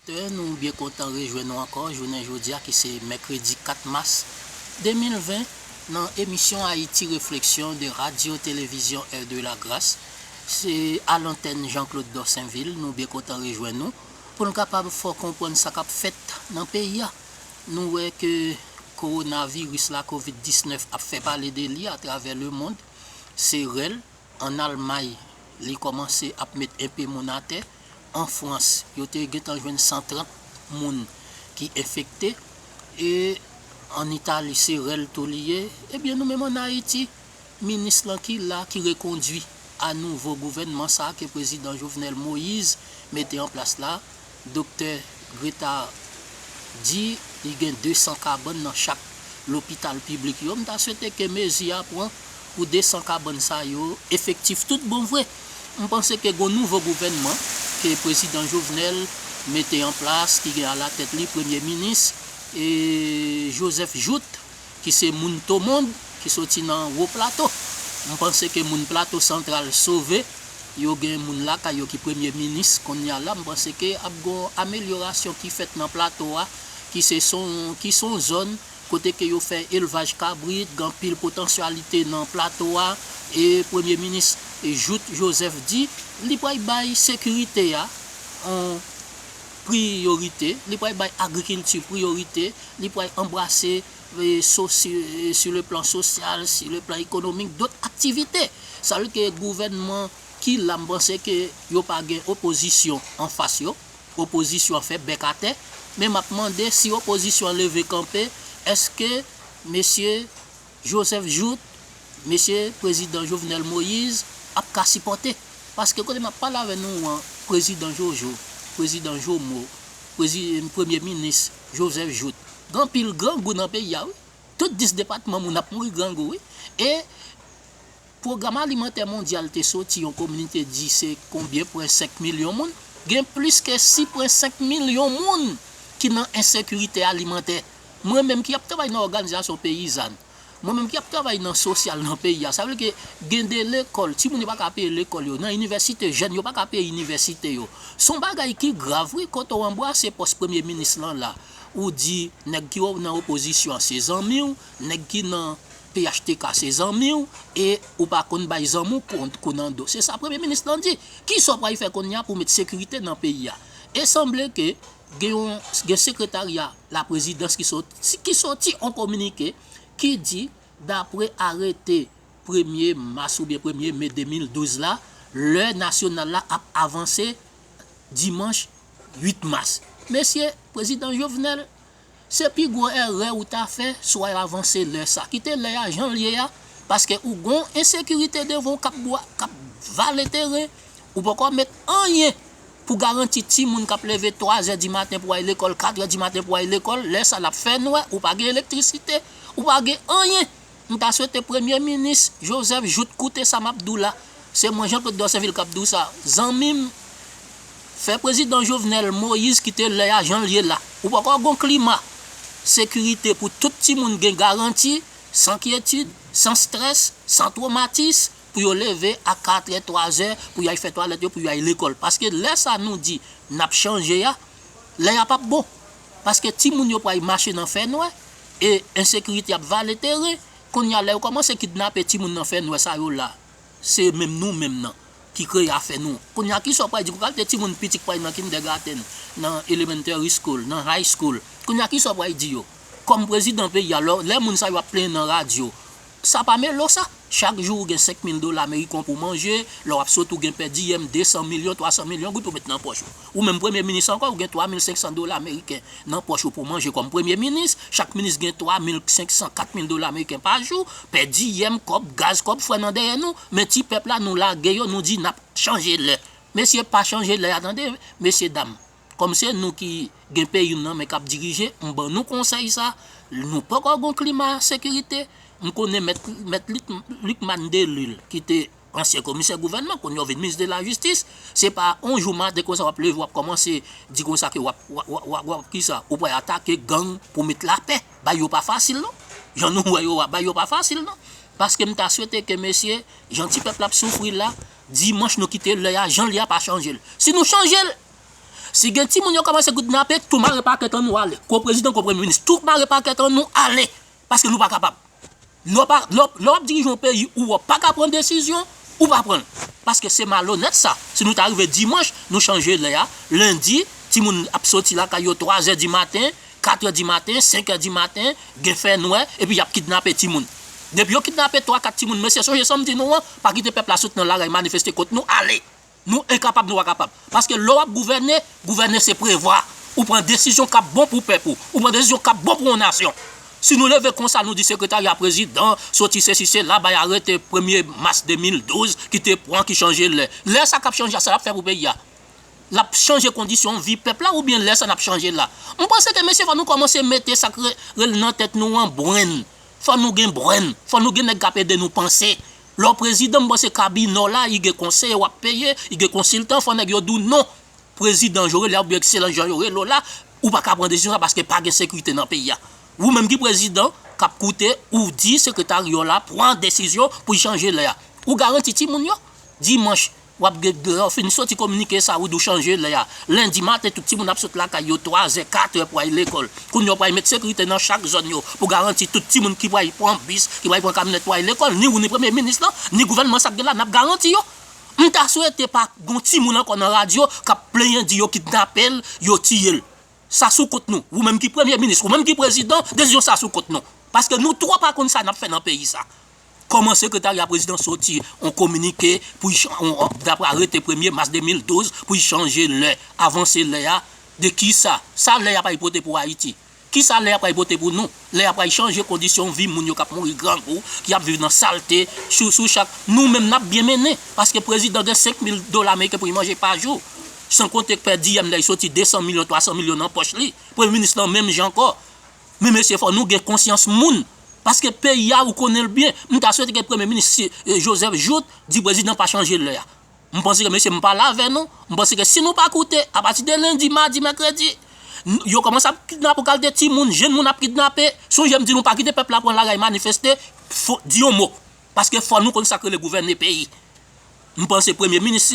Oditè, nou byen kontan rejwenn nou ankò jounen jodi a ki se mèkredi 4 mas 2020 nan emisyon Haïti Réflexion de Radio Télévision Heure de la Grâce. Se a lantèn Jean Claude Dorsainville nou byen kontan rejwenn nou pou n kapab fè w konprann sa k ap fèt nan peyi a. Nou wè ke kowonaviris la, covid 19, ap fè pale de li atravè lemond. Se rèl. An Almay, li kòmanse ap met enpe moun atè. An Frans, yo te gentan jwenn 130 moun ki enfekte. E an Itali, se rèl tou li ye. Ebyen nou menm an Ayiti, minis lan ki la, ki rekondui a nouvo gouvènman sa ke Prezidan Jovenel Moïse mete an plas la, Doktè Gretard di li gen 200 kabann nan chak lopital piblik yo, m ta swete ke mezi a pran pou 200 kabann sa yo efektif tout bon vre. M panse ke gon nouvo gouvènman ke Prezidan Jovenel mete an plas ki gen alatèt li Premye Minis Joseph Jouthe ki se moun Tomond ki soti nan Wo Plato. M panse ke moun Plato Santral sove, yo gen moun lakay yo ki premye minis konnya la, m panse ke ap gon amelyorasyon ki fèt nan Plato a ki se son ki son zòn kote ke yo fè elvaj kabrit, gen anpil potansyalite nan Plato a e premye minis Jouthe Joseph di li pral bay sekirite a on. Priyorite, li pral bay agrikilti priyorite, li pral anbrase su le plan sosyal, su le plan ekonomik, dot aktivite. Sa vle di ke gouvènman ki la m panse ke yo pa gen opozisyon anfas yo, opozisyon an fè bèk atè, men m ap mande si opozisyon an leve kanpe, èske mesye. Joseph Jouthe, Mesye Prezidan Jovenel Moise ap ka sipòte. Paske kote m ap pale avè nou an, Prezidan Jojo, Prezidan Jomo, Prezi, Premye Minis Joseph Jouthe, gen anpil grangou nan peyi a wi. Tout 10 depatman moun ap mouri grangou wi. E Pwogram Alimantè Mondyal te soti yon kominike di se konbyen pwen 5 milyon moun, gen plis ke 6 pwen 5 milyon moun ki nan ensekirite alimantè. Mwen menm ki ap travay nan òganizasyon peyizann, mwen menm ki ap travay nan sosyal nan peyi a, sa vle ke gen de lekòl, timoun yo pa ka peye lekòl yo, nan inivèsite jèn yo pa ka peye inivèsite yo. Son bagay ki grav wi, kote w anbwase pòs premye minis lan la, ou di nèg ki nan opozisyon an se zanmi w, nèg ki nan phtk se zanmi w e ou pa konn bay zanmi w kont kou nan do. Se sa premye minis lan di. Kisa w pral fè kounye a pou w met sekirite nan peyi a? E sanble ke gen yon gen sekretarya laprezidans ki sot ki soti yon kominike ki di dapre arete premye mas oubyen premye me 2012 la, lè nasyonal la ap avanse dimanch 8 mas. Mesye, prezidan Jovenel Se pi gwo erè ou ta fè si way avanse lè sa. Kite lè a jan l ye a paske ou gon ensekirite devan w kap bwa kap vale teren ou poko met anyen pou garanti timoun kap leve 3 zè di maten pou al lekòl 4 zè di maten pou al lekòl lè sa lap fè nwè ou pa gen elektrisite ou pa gen anyen M ta swete premye minis Joseph Jouthe koute sa map di w la, se mwen Jean Claude Dorsainville kap di w sa, zanmi m fè prezidan Jovenel Moïse kite lè a jan l ye la. Ou poko gon klima sekirite pou tout timoun gen garanti, san kyetid, san strès, san twomatis pou yo leve a katrè, twazè pou y al fè twalèt yo pou yo al lekòl. Paske lè sa nou di nap chanje a, lè a pap bon. paske timoun yo pway mache nan fè nwè e ensekirite ap vale teren konnya lè yo kòmanse kidnape timoun nan fè nwè sa yo la se menm nou menm nan ki kreye afè nou konnya kisa ou pway di pou kalte timoun piti k pway nan kindègatenn nan elementary school nan high school konnya kisa ou pway di yo kòm prezidan peyi a lò lè moun sa yo ap plenyen nan radyo Sa pa melo sa? Chak jou ou gen 5 mil dola ameriken w pou manje, lè w ap sot ou gen pè diyèm 200 milyon, 300 milyon goud pou met nan pòch ou. Ou menm premye minis ankò ou gen 3 mil 500 dola ameriken nan pòch ou pou manje kòm premye minis, chak minis gen 3 mil 500, 4 mil dola ameriken pa jou, pè diyèm, kòb gaz, kòb frè nan dèyè nou, men ti pèp la nou lage yo nou di n ap chanje lè. Mesye pa chanje lè a tande mesye dam. Kòm se nou ki gen peyi m nan men k ap dirije, m ban nou konsèy sa, nou poko gen yon klima sekirite, m konnen mèt Lucmane Delille ki te ansyen komisè gouvènman kounye a w vin minis de la jistis, se pa yon jou maten konsa w ap leve w ap kòmanse di konsa ke w ap w ap ki sa, ou pral atake gang pou met lapè, bagay yo pa fasil non, jan nou wè yo a bagay yo pa fasil non, paske m ta swete ke mesye jan ti pèp la ap soufri la, dimanch nou kite lè a jan li a pa chanje l, si nou chanje l. Si gen timoun yo komanse kidnape tou mare pakèt an nou ale ko prezidan ko premye minis tou mare pakèt an nou ale paske nou pa kapab lè wap dirije yon peyi ou wè w paka pran desizyon ou pa pran l paske se malonèt sa si nou ta rive dimanch nou chanje lè a lendi timoun ap soti lakay yo 3 zè di maten 4 è di maten 5 è di maten gen fè nwè epi yap kidnape timoun depi yo kidnape 3 4 timoun mesye sonje sam di nou an pa kite pèp la sot nan lari manifeste kont nou ale. Nou enkapab nou pa kapab. Paske lè w ap gouvène, gouvène se prevwa. Ou pran desizyon k ap bon pou pèp ou. Ou pran desizyon k ap bon pou yon nasyon. Si nou leve konsa nou di sekretarya prezidan soti sesi sela bay arete premye mas 2012 ki te pran ki chanje lè. Lè sa k ap chanje a sa l ap fè pou peyi a? L ap chanje kondisyon vi pèp la oubyen lè sa n ap chanje la? M panse ke mesye fò nou kòmanse mete sa k rele nan tèt nou an brenn. Fò nou gen brenn. Fò nou gen nèg k ap ede nou panse. Lè w prezidan m panse kabinè w la i gen konseye wap peye i gen konsiltan fò nèg yo di w non prezidan Joe rele a oubyen ekselans Jean yo rele w la ou paka pran desizyon sa paske pa gen sekirite nan peyi a ou menm ki prezidan kap koute ou di sekretaryo la pran desizyon pou chanje lè a ou garanti timoun yo dimanch Wap gèt deyò fin soti kominike sa ou di w chanje lè a. Lendi maten tout timoun ap sot lakay yo 3 zè, 4 è pou al lekòl. Kounye w pral met sekirite nan chak zòn yo pou garanti tout timoun ki pral pran bis, ki pral pran kamyonèt pou al lekòl. Ni ou ni premye minis lan, ni gouvènman sa k gen la nap garanti yo. M ta swete pa gon timoun ankò nan radyo kap plenyen di yo kidnape l, yo tiye l. Sa sou kont nou. Ou menm ki premye minis, ou menm ki prezidan, desizyon sa sou kont nou. Paske nou twò pa konn sa nap fè nan peyi sa. Kòman Sekretarya Prezidans soti on kominike pou y dapre arete premye mas 2012 pou y chanje lè, avanse lè a de ki sa? Sa lè a pral pote pou Ayiti? Ki sa lè a pral pote pou nou? Lè a pral chanje kondisyon vi moun yo k ap mouri grangou, ki ap viv nan salte sou sou chak nou menm n ap byen mennen paske prezidan gen 5 mil dola meriken pou y manje pa jou san konte pèdiyèm lè y soti 200 milyon 300 milyon nan pòch li premye minis lan menm jan ankò Men mesye fò nou gen konsyans moun paske peyi a ou konnen l byen m ta swete ke premye minis Joseph Jouthe di prezidan pa chanje lè a m panse ke mesye m pa la vè nou m panse ke si nou pa koute apati de lendi madi mèkredi yo komanse ap kidnape ou kalte ti moun jenn moun ap kidnape sonje m di nou pa kite pèp la pran lari manifeste fò di yon mo paske fò nou konn sak rele gouvène peyi. M panse premye minis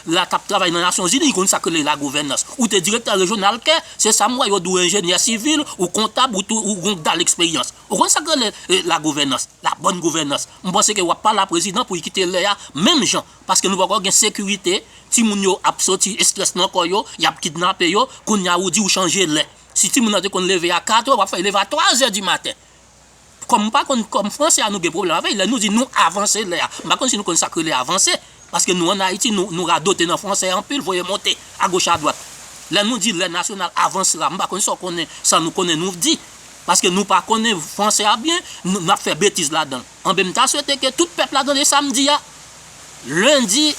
la tap travay nan nasyon zini konn sak rele la gouvènans ou te direktè rejyonal kè se sam wè yo di w enjenyè sivil ou kontab ou tou ou gon kdal eksperyans ou konn sak rele la gouvènans la bòn gouvènans m panse ke wap pale a prezidan pou y kite lè a menm jan paske nou poko gen sekirite timoun yo ap soti estrès nan kò yo yap kidnape yo kounya ou di ou chanje lè si timoun nan te konn leve a 4 è wap fè l leve a 3 zè di maten. Kòm m pa konn kòm fransè a nou gen pwoblèm avè l, lè nou di nou avanse lè a, m pa konn si nou konn sa k rele avanse, paske nou ann Ayiti nou nou radote nan fransè anpil voye monte agoch adwat. Lè nou di lè nasyonal avansera m pa konn sa w konnen sa nou konnen nou di paske nou pa konnen fransè a byen n ap fè betiz ladan l. Anben m ta swete ke tout pèp la tande sa m di a. Lundi,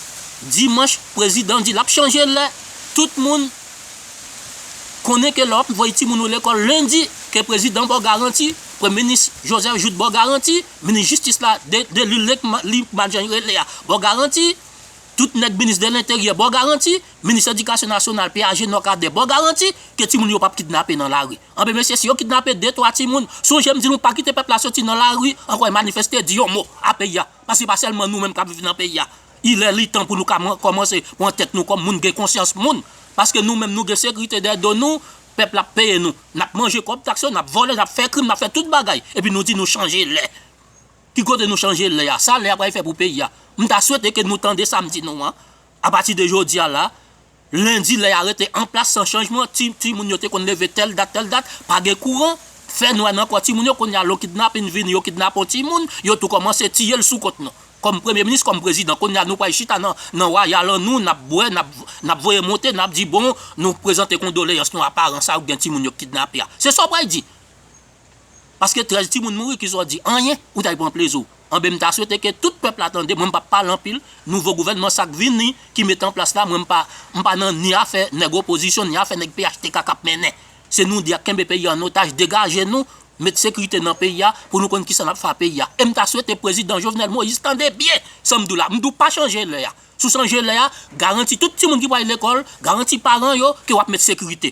dimanch prezidan di lap chanje lè, tout moun Konnen ke lè wap voye timoun ou lekòl lundi ke prezidan baw garanti, premye minis Joseph Jouthe baw garanti, minis jistis la Delus Licmac jan li rele a baw garanti, tout nèg minis de lenteryè baw garanti, minis edikasyon nasyonal P. Agenor Cadet baw garanti ke timoun yo pap kidnape nan lari. Anben mesye si yo kidnape 2 3 timoun, sonje m di nou pa kite pèp la soti nan lari ankò e manifeste di yon mo a peyi a. Paske pa sèlman nou menm k ap viv nan peyi a. Ilè li tan pou nou ka kòmanse pran tèt nou kòm moun, gen konsyans moun. Paske nou menm nou gen sekirite dèyè do nou, pèp la ap peye nou. N ap manje kòb taks yo, n ap vòlè, n ap fè krim, n ap fè tout bagay. Epi nou di nou chanje lè. Ki kote nou chanje lè a? Sa lè a pral fè pou peyi a? M ta swete ke nou tande sa m di nou an. Apati de jodi a la, Lendi lè a rete anplas san chanjman, ti ti moun yo te konn leve tèl dat tèl dat, pa gen kouran, fè nwè nan kò ti moun yo, kounye a lo kidnapin vini yo kidnape yon ti moun, yo tou kòmanse tiye l sou kont nou. Kòm premye minis, kòm prezidan, kounye a nou pral chita nan nan wayal an nou, n ap bwè, n ap n ap voye monte, n ap di bon nou prezante kondoleyans nou a paran sa yo k gen ti moun yo k kidnape a. Se sa w pral di? Paske 13 timoun mouri kisa w di anyen ou ta pran plezi w. Anben m ta swete ke tout pèp la tande mwen m pap pale anpil nouvo gouvènman sak vini ki mete an plas la mwen m pa m pa nan ni afè nèg opozisyon ni afè nèg phtk kap mennen se nou di ak kenbe peyi an otaj degaje nou met sekrite nan peyi a pou nou konn kisa nap fè a peyi a e m ta swete prezidan Jovenel Moïse tande byen sa m di w la m di w pa chanje lè a si w chanje lè a garanti tout timoun ki pral lekòl garanti paran yo ke wap met sekrite.